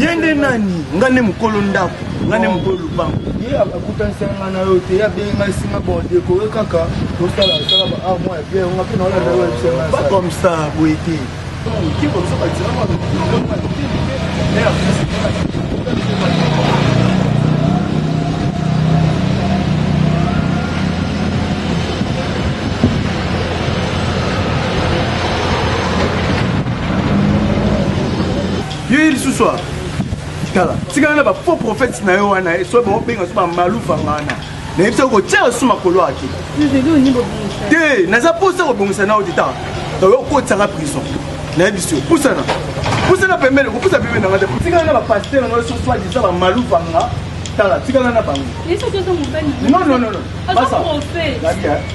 ye nde nani nga nde mokolo ndako nga nde mokolo lupango ye akutanisa nga na yo te abengi ngai singa bordekore kaka tosala sala ba ah, mwa ya biere nga mpe naolanda yo yebisa comme ça boye te yo ye lisusu a tala tikala na bafaux prophète na yo wana soki baobenga so bamalufa ngana nayebisa kotia yo su makolo ake te naza mposa kobongisa nao te tala oyo okotisaka prison nayebisi yo pusana pusana pembeni kopusa pembeni nanga te tikala na bapaster nanga so soit disa bamalufa nga tala tikala na bango non non non non basa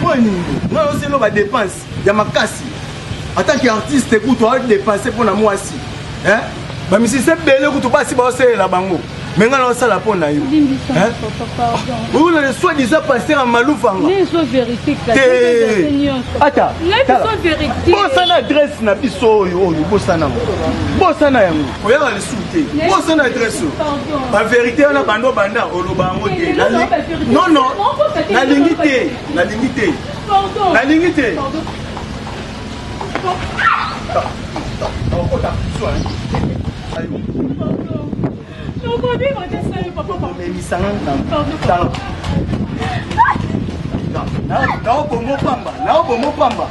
Mpo ya nini ngai osi eloba depense ya makasi ata ki artiste kutu adepense mpo na mwasi eh? bamisisi ebele kutu basi baosalela bango me ngai naosala mpo na yo oyolele soi disa paster ya malufanga ata bosana adresse na biso oyo oyo bosana yango bosana yango te oza na adresse baverité wana banda obanda oloba yango te nono nalingi te nalingi te nalingi te naobomo pamba naobomo pamba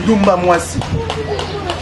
ndumba mwasi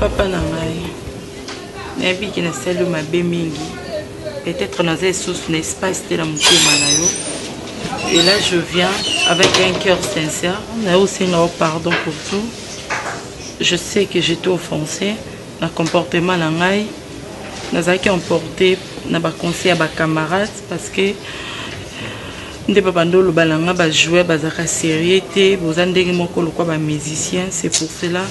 papa na ngai nayebi ke nasali mabe mingi peut-être naza lisusu na espace te na motema na yo et là je viens avec un cœur sincère nayo osenga yo pardon pour tout je sais que j'étais offensé Na comportement na ngai, nazalaki emporte na ba conseils ya ba camarades parce que nde babanda oloba na nga bajoueur bazalaka sérieux te boza ndenge moko lokwa bamusicien c'est pour cela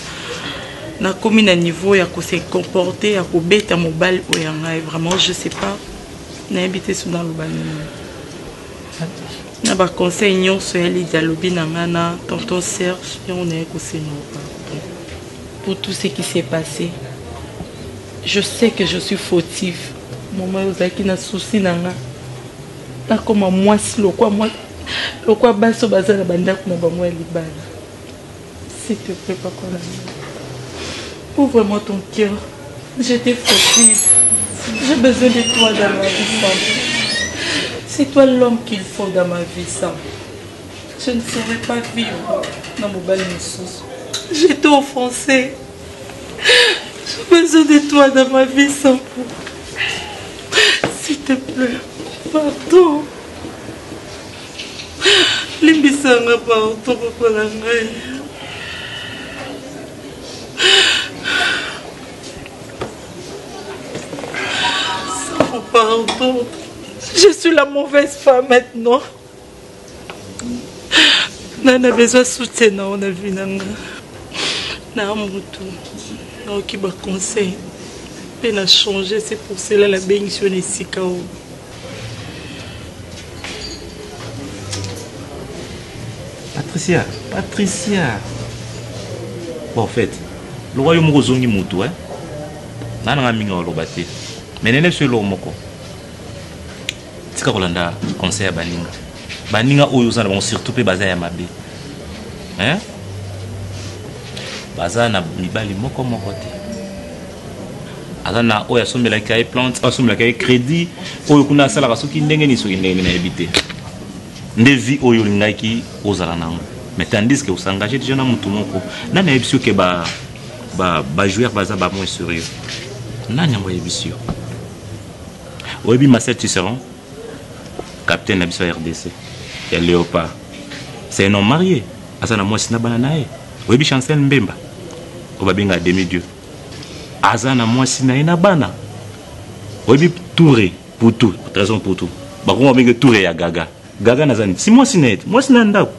nakomi na niveau ya kose comporte ya kobeta mobali oyo ya ngai vraiment je sais pas nayebi te soki naloba nini na baconseil nyonso ya lidi alobi na ngai na tonton serge yango naye kosenga pour tout ce qui s'est passe je sais que je suis fautif mama ozalaki na souci na nga nakoma mwasi lokwa mwasi lokwa basi oyo baza na bandako na bango ya libala s'il te plaît papa na ouvre moi ton cœur j'étais fautive j'ai besoin de toi dans ma vie c'est toi l'homme qu'il faut dans ma vie ça Je ne saurais pas vivre na mobali mosusu. J'étais offensée. J'ai besoin de toi dans ma vie sans pour. S'il te plaît, pardon. Limbisa nga pardon papa na ngai. Sans pardon. Je suis la mauvaise femme maintenant. nga na besoin soutien na yo na vie na nga na mutu nayoki baconseil mpe na change se pour cela nabengisi yo na esika oyo patricia patricia bon fait loka yo moko ozongi mutu e eh? nana nga mingi oloba te menene so eloko moko tika kolanda conseil ya baninga baninga oyo oza na bango surtout mpe baza ya mabe hein? baza na mibali moko moko te aza na oyo asombelaki ye plante oyo asombelaki ye crédit oyo kuna asalaka soki ndenge nini soki ndenge nini nayebi te nde vie oyo olingaki ozala na yango mais tandis que osengage déjà na motu moko nani ayebisi yo ke bajoueur baza bamoi sérieux nani yango ayebisi yo Oyebi Marcel Tisserand, capitaine na biso ya RDC, ya Leopard. C'est un homme marié, aza na mwasi na bana na ye. Oyebi Chancel Mbemba, oyo babenga demi dieu. Aza na mwasi na ye na bana. Oyebi Toure, Poutou, Trésor Poutou. Bakoma benge Toure ya Gaga. Gaga naza nini? Si mwasi na ye, mwasi na ndako.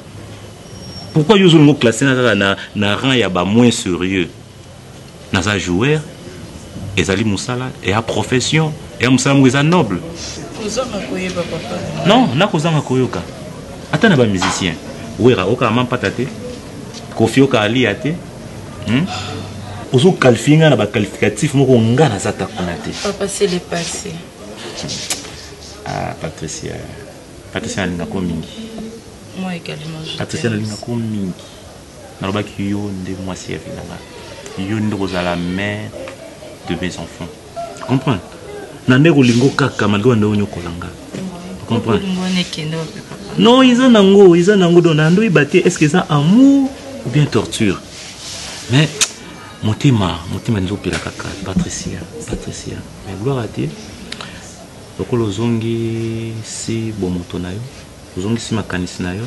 Pourquoi yo ozolinga oklasse na kaka na, na rang ya ba moins serieux? naza joueur ezali musala eya profession eya musala moko eza noble non nakozanga koyoka ata na bamusicien wera okaka mampata te kofi okaka liya te hmm? ozokalifie ngai na baqualificatif moko ngai naza ta kuna te ah, patricia patricia nalingako mingi patricia nalingako mingi Nalobaki yo nde mwasi ya vie na nga. Yo nde okozala mère de mes enfants. Comprends? Na nde kolingo kaka malgré nde onyokola nga. Comprends? Non, eza nango, eza nango donc na ndoyi bate est-ce que eza amour ou bien torture? Mais motema, motema nzo pela kaka Patricia, Patricia. Mais gloire à Dieu. lokola ozongisi bomoto na yo ozongisi makanisi na yo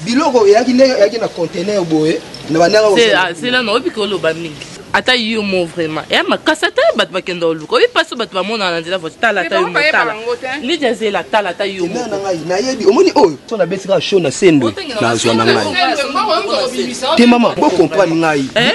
biloko eyaki ndenge eyaki na contener boye na bandanga zela na oyebi koloba mingi ata yo mo vraiment ya makasi ata ye bato bakenda oluka oyebi mpasi bato bamonaka na nzela voiture tala ata yo motala lidia zela tala ata yo mo na ngai nayebi omoni oyo so nabeti kaka show na sendo nazwa na ngai te mama bocomprendre ngai eh?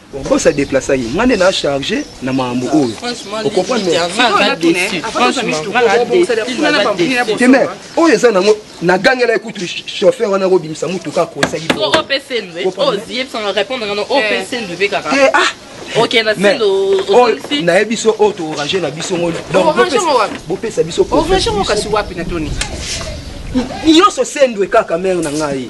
boss a déplacer ye nga nde na charge na makambo oyo ocomprendre demer oyo eza nango nagangela ekutu chauffeur wana kobimisa motuka akosaki naye biso oyo toorange na biso ngo bopesa biso nyonso sendwe kaka mare na ngai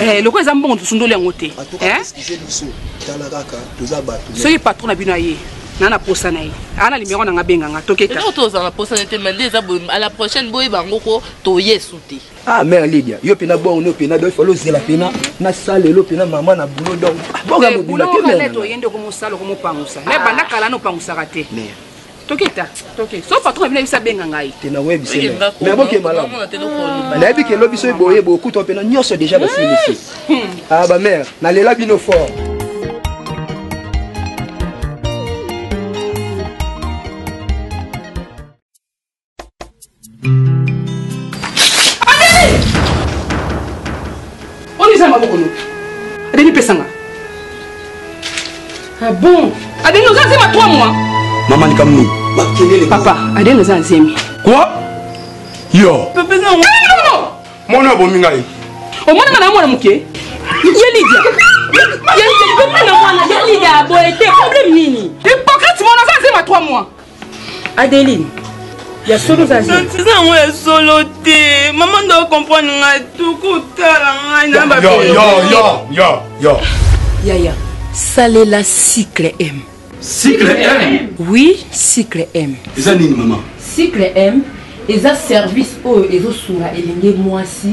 Eh, lokola eza mbongo tosundoli yango te eh? soki patron na bino aye na na posa na ye ana limero na nga benga nga toketa tozala na posa na te mende eza boye à la prochaine boye bango ko toye su te ah mère lidia yo pena bongo no pena donc falo zela pena na sale lo pena maman na boulot donc ah, bonga eh, mobula te mère boulot na to yende ko mosalo ko mopangusa mais ah. banda kala no pangusaka te mère toketa toke so patron abina biso abenga ngai te naoyebisenaboke malamu nayebi kelo biso eboye bokuta mpe na nyonso deja basilisi hmm. a ah, bamare nalela bino fort eza maboko no adeni pesanga ah bon adeni oza nzema 3 mois mama likambo nini makelele papa adeni oza nzemi kua yo mwana abomi ngai omonaka na mwana moke ye lidia ye lidia aboye te problème nini hypocrite mwana oza nzema 3 mois adeline ya solo oza eza yango ya solo te mama ndo okomprendre ngai tuku otala ngai na bayo yaya salela cycle m cycle m oui cycle m eza nini mama cycle m eza service oyo ezosunga elenge mwasi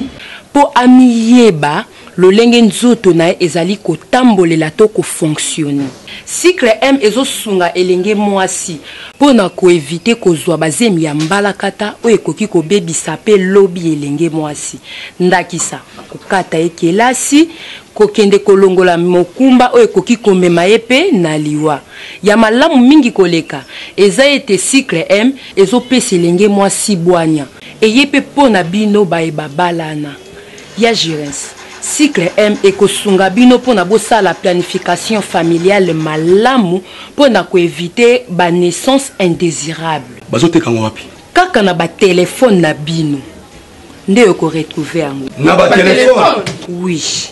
mpo amiyeba lolenge nzoto na ye ezali kotambolela to ko fonctionner. Cycle M ezosunga elenge mwasi mpo na ko eviter kozwa ba zemi ya mbalakata oyo ekoki kobebisa mpe lobi ya elenge mwasi, ndakisa, kokata ye kelasi, kokende kolongola mokumba oyo ekoki komema ye mpe na liwa. Ya malamu mingi koleka eza ete cycle M ezopesa elenge mwasi bwanya eye mpe mpo na bino baye babalana. Ya Girens, Cycle M ekosunga bino mpo na bosala planification familiale malamu mpo na ko eviter ba naissances indesirables. Bazoteka yango wapi? Kaka na ba telephones na bino nde oko retrouver yango. Na ba telephones? Oui.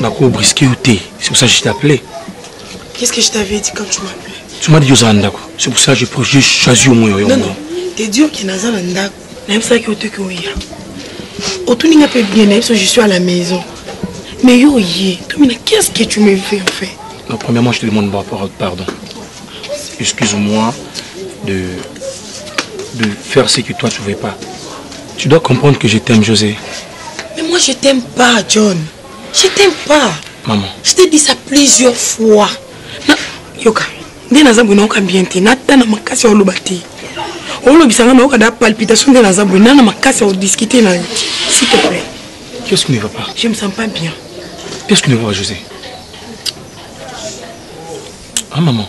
nako brisque yo te c'est pour ça je t'appelais qu'est-ce que je t'avais dit quand tu m'appelais tu m'as dit ozala ndako c'est pour ça je j'ai choisi au moins yo non non t'es dur que naza na ndako nayebisaki yo te ke oya otuni nga mpe bien nayebi so je suis à la maison mais yo oye tomina qu'est ce que tu me fais en fait non, premièrement je te demande pardon excuse-moi de de faire ce que toi tu veux pas tu dois comprendre que je t'aime José Mais moi, je t'aime pas, John. Je t'aime pas. Maman. Je t'ai dit ça plusieurs fois. Na, yoka. nde naza boye nayoka bien te natana makasi ya oloba te olobisa nga nayoka da palpitation nde naza boye nana makasi ya odiscute na yo s'il te plaît qu'est-ce qui ne va pas je me sens pas bien qu'est-ce qui ne va pas josé ah maman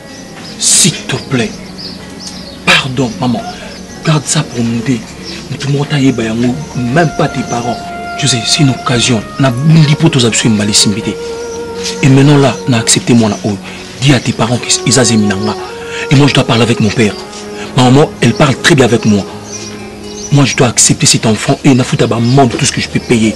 s'il te plaît pardon maman garde ça pour nous deux motu moko tayeba yango même pas tes parents josé c'est une occasion nabundi mpo toza biso embala esimbi te et maintenant là na accepte mwana oyo dis à tes parents que eza zemi na nga et moi je dois parler avec mon père ma maman elle parle très bien avec moi moi je dois accepter cet enfant et nafuta bamande tout ce que je peux payer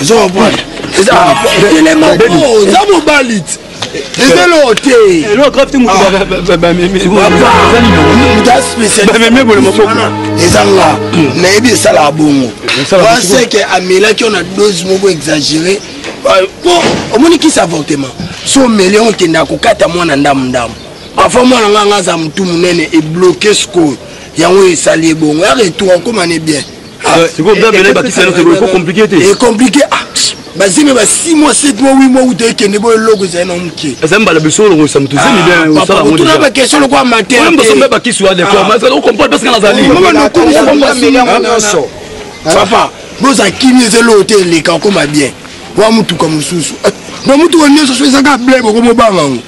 ozo comprendre eza elema oza mobali ti eza eloko te bamemi ebolo maboko eza nga nayebi esalaka bongo waseke amelaki yo na dose moko exagéré po omoni kisi avortement so omeli yango okendaka kokata mwana ndambu ndambu parfois mwana nga nga aza motu monene ebloke sikoyo yango esali ye bongo ya retour akoma ne bien ekomplike te ekomplike ah, bazemi ba 6 mois 7 mois 8 mois uta ekende boyo eloko ezali na moke ezali mbala biso olongolisa moto ezemibotuna ah, bakestion lokola mateoyembosobe bakisi wa dekomaokomprendre parce que nazali papa boza kimi eza eloko te eleka okoma bien wa motuka mosusu eh, na motuka nyonso so ezaka ble bokomobanga yango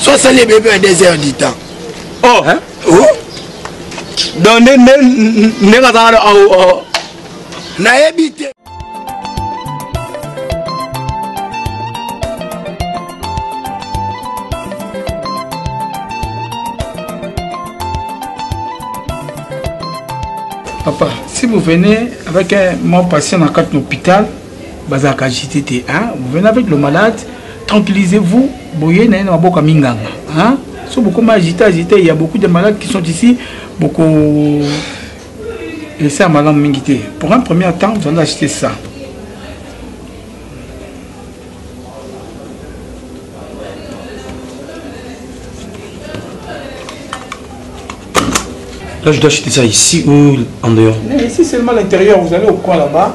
so asali ebele mpe na 2 heures du temps oh. Hein? Oh? donc ndenge azalaka nayebi te Papa, si vous venez avec un mort patient dans l'hôpital, bazalaka agite te hein? vous venez avec le malade tranquillisez vous boye na ye na maboko ya minganga hein? so bokoma agite agite il y a beaucoup de malades qui sont ici boko esa malamu mingi te pour un premier temps vous allez acheter ça Là, je dois acheter ça ici ou en dehors Mais ici, seulement l'intérieur. Vous allez au coin là-bas.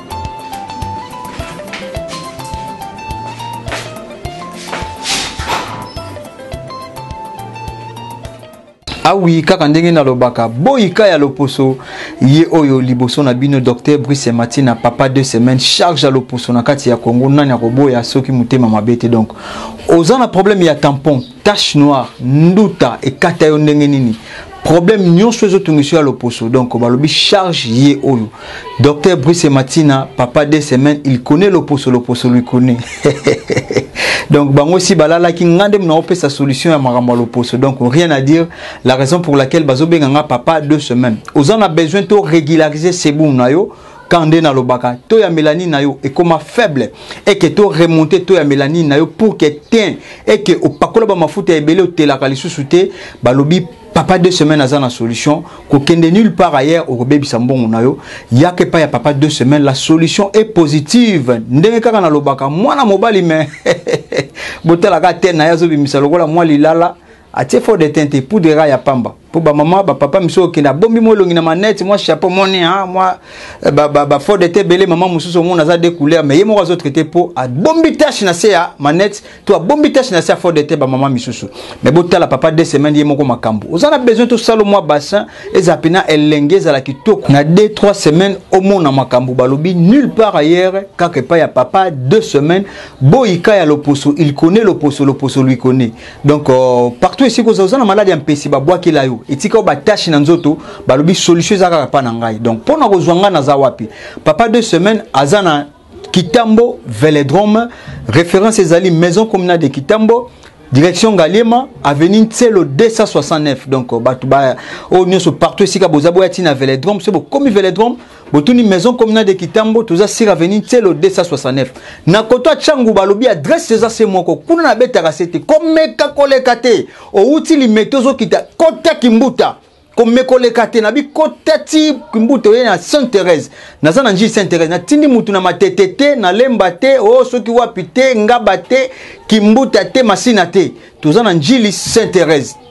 awi kaka ndenge nalobaka boyika ya loposo ye oyo liboso na bino docteur brice matina papa deux semaines charge ya loposo na kati ya congo nani akoboya soki motema mabe te donc oza na problème ya tampon tache noire nduta ekata yo ndenge nini problème nyonso ezotungisa ya loposo donc balobi charge ye oyo docteur brice matina papa de semaine il connaît loposo loposo lui connaît donc bango si balalaki nga nde naopesa solution ya makambo ya loposo donc rien à dire la raison pour laquelle bazobenga nga papa de semaine oza na besoin to régulariser sebum na yo quand nde nalobaka to ya melanine na yo ekoma faible eke to remonte to ya melanine na yo pour que teint eke opakola bamafuta ebele otelaka lisusu te balobi papa deux semaines aza na solution kokende nulle part ailleurs okobebisa mbongo na yo yaka epai ya papa deux semaines la solution est positive ndenge kaka nalobaka mwana mobali me botalaka te na ye azobimisa lokola mwa lilala atie fo de teint te poudre kaka ya pamba mpo bamama bapapa misu okende abombi mwa elongi na manete mwa chapeau moni ah, mwa eh, bafo de te ebele mama mosusu omona aza de couleur mais ye moko azotraite mpo abombi tache na se ya manete to abombi tache na se ya fo de te bamama misusu mais botala papa de semaine ye moko makambo oza na besoin tosala mwa bassin ezala mpena elenge ezala kitoko na 2 3 semaine omona makambo balobi nulle part ailleurs kaka epai ya papa 2 semaine boyika ya loposo il connaît loposo loposo lui connaît donc euh, partout esika oza oza na maladi ya mpesi babwakela yo etika yo batache na nzoto balobi solution eza kaka mpa na ngai donc mpo na kozwa ngai naza wapi papa deux semaines aza na kitambo veledrome référence ezali maison communale de kitambo direction ngaliema avenue nselo 269 donc euh, bato ba oyo oh, nyonso partout esika boza boya ntina veledrome soki bokomi veledrome botuni maison communale de kitambo toza sur avenue nselo 269 na koto atya nguba alobi adresse eza se moko kuna nabetaka se te komeka koleka te owuti limete ozokita kota kimbuta komekoleka te nabi kota ti kimbuta oye na sainte therese naza na njii sainte therese natindi motu na matete te nalemba te o oh, soki wapi te ngaba te kimbuta te masina te toza na njili sainte therese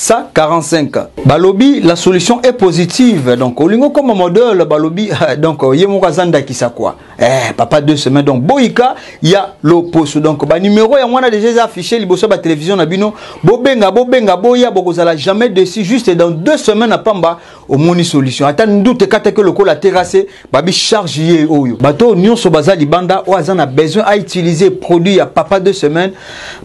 ça 45 balobi la solution est positive donc olingo comme modèle balobi donc ye moko aza ndakisa quoi eh papa deux semaines donc boyika ya loposo donc ba numéro ya mwana déjà eza affiché liboso ba télévision na bino bobenga bobenga boya bokozala jamais dessus juste dans deux semaines na pamba omoni solution ata ndoute ekataki lokola terrasse babi charge ye oyo bato nyonso baza libanda oyo aza na besoin a utiliser produit ya papa deux semaines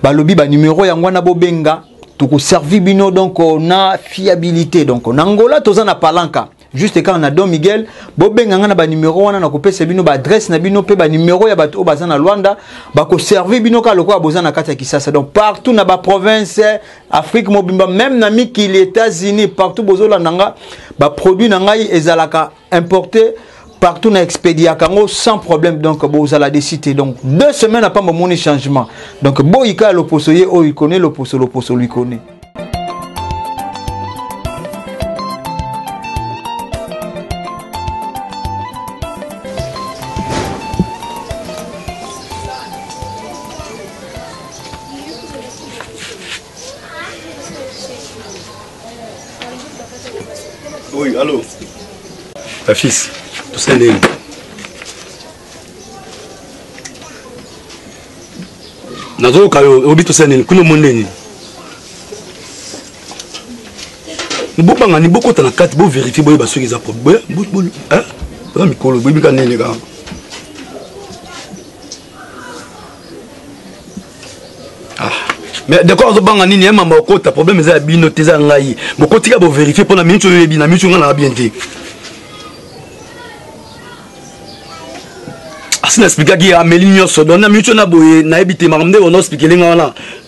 balobi ba numéro yango wana bobenga tokoservi bino donc na fiabilité donc na ngola toza na palanka juste kaka na don miguel bobenga ngai na banimero wana nakopesa bino baadresse na bino mpe banimero ya bato oyo baza na lwanda bakoservi bino kaka lokola boza na kati ya kisasa donc partout na baprovince afrique mobimba meme na mikili états-unis partout bozolanda nga baproduit na ngai ezalaka importer partout na expediaka yango sans problème donc bozala desi te donc deux semaines apa momoni changement donc boyika ya loposo ye oyo ikone loposo loposo luikone Oui, allô Ta fils, tout ça est nazoyoka yo obi tosala nini kuna omoni nini bobanga ni bokota na kati boverifie boyeba soki eza problème boza mikolo boyebi ka nini kaka ah. mais decor azobanga nini ye mama okota problème eza ya bino te eza ya ngai bokotika boverifie mpo na miniti oyo oyebi na miniti ngai naa bien te asi na explikaki ameli nyonso don na miniti oyo na boye nayebi te makambo nde ona osplikele ngai wana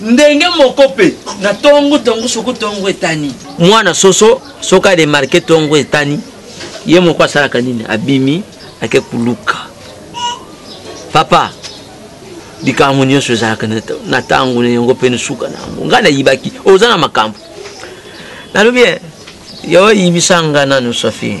ndenge moko mpe na ntongo ntongo soko ntongo etani mwana soso soki aremarke ntongo etani ye moko asalaka nini abimi ake koluka papa likambo nyonso ezalaka na ntango na yango mpe nsuka na yango ngai nayibaki oza na makambo nalobi eh, yo oyibisa ngai nanu sofi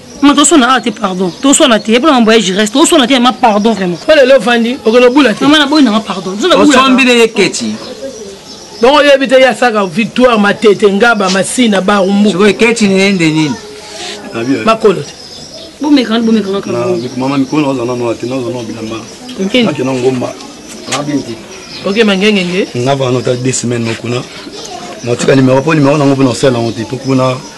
ma toswana awa te pardon toswana te epona mambo ya gireste toswana te ma pardon vraiment po lelo ofandi okende obula te mama naboyi nanga pardon osombi na ye keti donc oyebi te ye asaka victoire matete ngaba masina barumbu keti nende nini makolo te bomekana ti bomekana kamama mikolo naoza nano ate naoza nao bilamba ake na ngomba oke mangengenge navana ota de semaine nokuna natika nimero mpo nimero nango mpo na osala yango te mpo kuna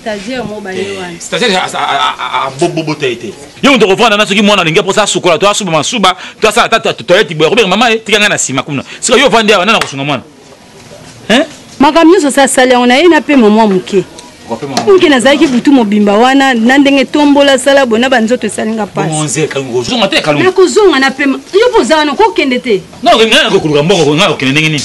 stagiaire mo baye eh, wana stagiaire abobobota ye te yo moto okovanda na soki mwana alingi mposa asukola to asuba masuba to asala ata toyeti boye akobeka mama ye tika ngai na nsima kuna sika yo ovandi awa nani akosunga mwana makambo nyonso osi asali yango na ye na mpe momwa moke moke nazalaki butu mobimba wana na ndenge tombola sala boye na banzoto esali nga pasiakozonga na pema yo mpo oza wana kokende te koluka mboko nga okende ndenge nini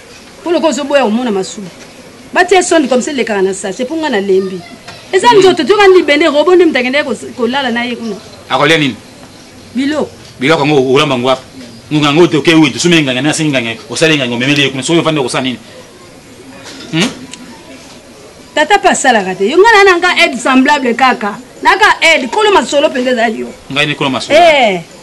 mpo lokola ozoboya komona masuba batie sonde comme ça elekaka na sachet mpo ngai nalembi eza hmm. nzoto toyoka libende robo nde moto akendaki kolala na ye kuna akolia nini biloko biloko yango olamba yango wapi ngonga yango toke oyo tosombi enganga nasi enganga osali enganga omemeli ye kuna soki ofandi okosala nini hmm? tata mpe asalaka te yo ngai naa na nga aide semblable kaka naka aide kolo masolo mpenza ezali yo ngai nde kolo masolo eh.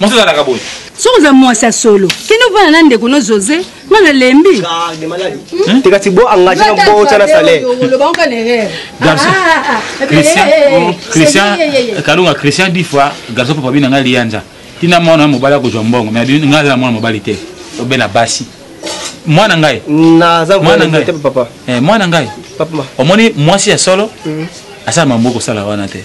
Mwasi azalaka boye. Soki oza mwasi ya solo, kende ovanda na ndeko no Jose, nga na lembi. Hmm? Teka ti bo engage na bo tana salaire. Garçon. Ah, ah, ah, Christian, oh, Christian, Kalunga Christian dit fois, garçon papa bina nga lianja. Tina mwana mobali akozwa mbongo, mais nga za mwana mobali te. Obela basi. Mwana ngai. Na za mwana ngai te papa. Eh mwana ngai. Papa. Omoni mwasi ya solo? Hmm. Asala mambo kosala wana te.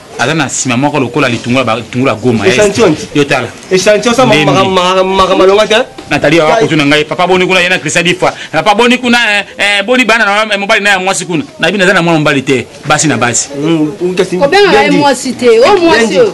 aza na nsima moko lokola litungula batungula goma yo tala natali awa kutu na ngai papa boni kuna ye na krista difa papa boni kuna eh, eh, boni bana na eh, mobali na ya mwasi kuna nayebi naza na mwana mobali te basi na basi mm, obengaka ye mwasi te o oh, mwasi oyo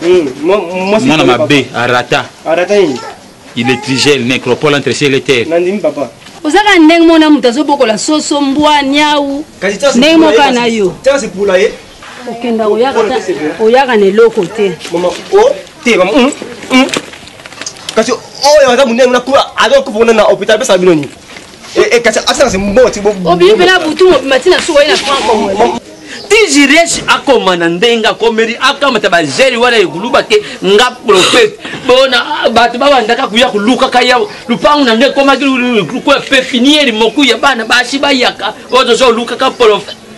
hmm, mwana mabe arata arata nini iletrigel necropole entre ciel et terre nandimi papa ozaka ndenge mona moto azobokola soso mbwa niau ndenge moka na yo okenda oyaka na eloko te te mm, mm. kasi oyo aza monene kuna azokufa kuna na hôpital apesaka bino nini Eh, eh, kasi asala se mbongo ti obimela butu mobima ti na suka ye na franco tijiresi akoma na ndenge akomeli akamata bazeli wana ekuluba te nga profete bona bato babandaka koya kolukaka ya lupangu na nde ekomaki lokola pepiniere moku ya bana basi bayaka oyo toza olukaka profete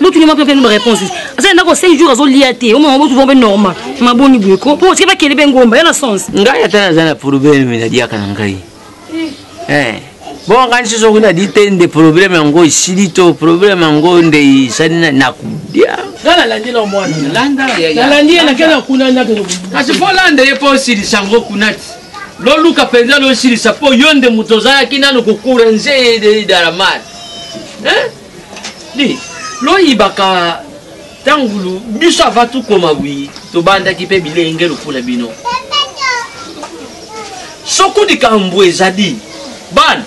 botuni mwa mpe nomba réponse aza ndako 5 jours azolia te omama botuni mpe normal maboni boye ko mpo otike bakende mpe ngomba ya na sens ngai ata naza na probleme nadiaka na ngai eh, bongo ngai nsusu okuna di te nde probleme yango esili to probleme yango nde esali nakudia nga nalandela omwana nalandi ye nakenda kuna kasi mpo olanda ye mpo osilisa yango kuna ti loluka mpenza losilisa mpo yo nde moto ozalaki nano kokura nze ye de dalamar loyibaka ntangulu biso ava tukoma bwi tobandaki mpe bilenge lokola bino soko likambo ezali bana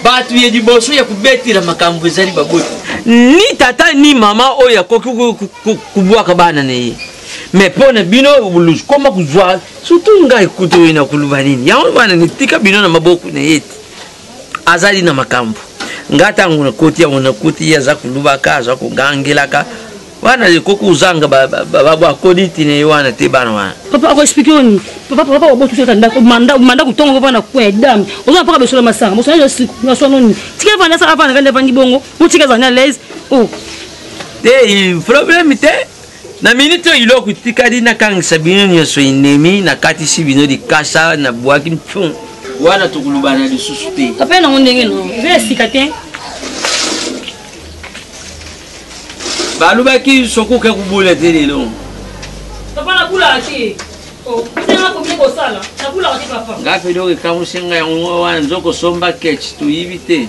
bato ya liboso ya kobetela makambo ezali baboti ni tata ni mama oyo akoki kobwaka bana na ye me mpo na bino koma kozwa surtout ngai kutu oyo na koloba nini yango bana nitika bino na maboko na ye te azali na makambo nga ntango nakoti yango nakoti ye aza kolubaka aza kogangelaka wana ekoki kozanga bakoni ntina ye wana te bana wana papa akoexplike yo nini papa papa obotusi kaka ndako manda manda kutonga ngo bana kwe dame oza mpaka besola masanga bosana yo siku na sono nini tika vanda sa avanda kanda vandi bongo motika ezali na laise o oh. te problème te na miniti oyo iloko itikali nakangisa bino nyonso enemi nakatisi bino likasa na bwaki mpion wana tokolobana lisusu te ape nango ndenge no eza ya sika te balobaki soki oke kobola te lelo papa nabulaka te oh, nga mpe eloko ekamusi ngai yango wana nzokosomba ketch toyibi te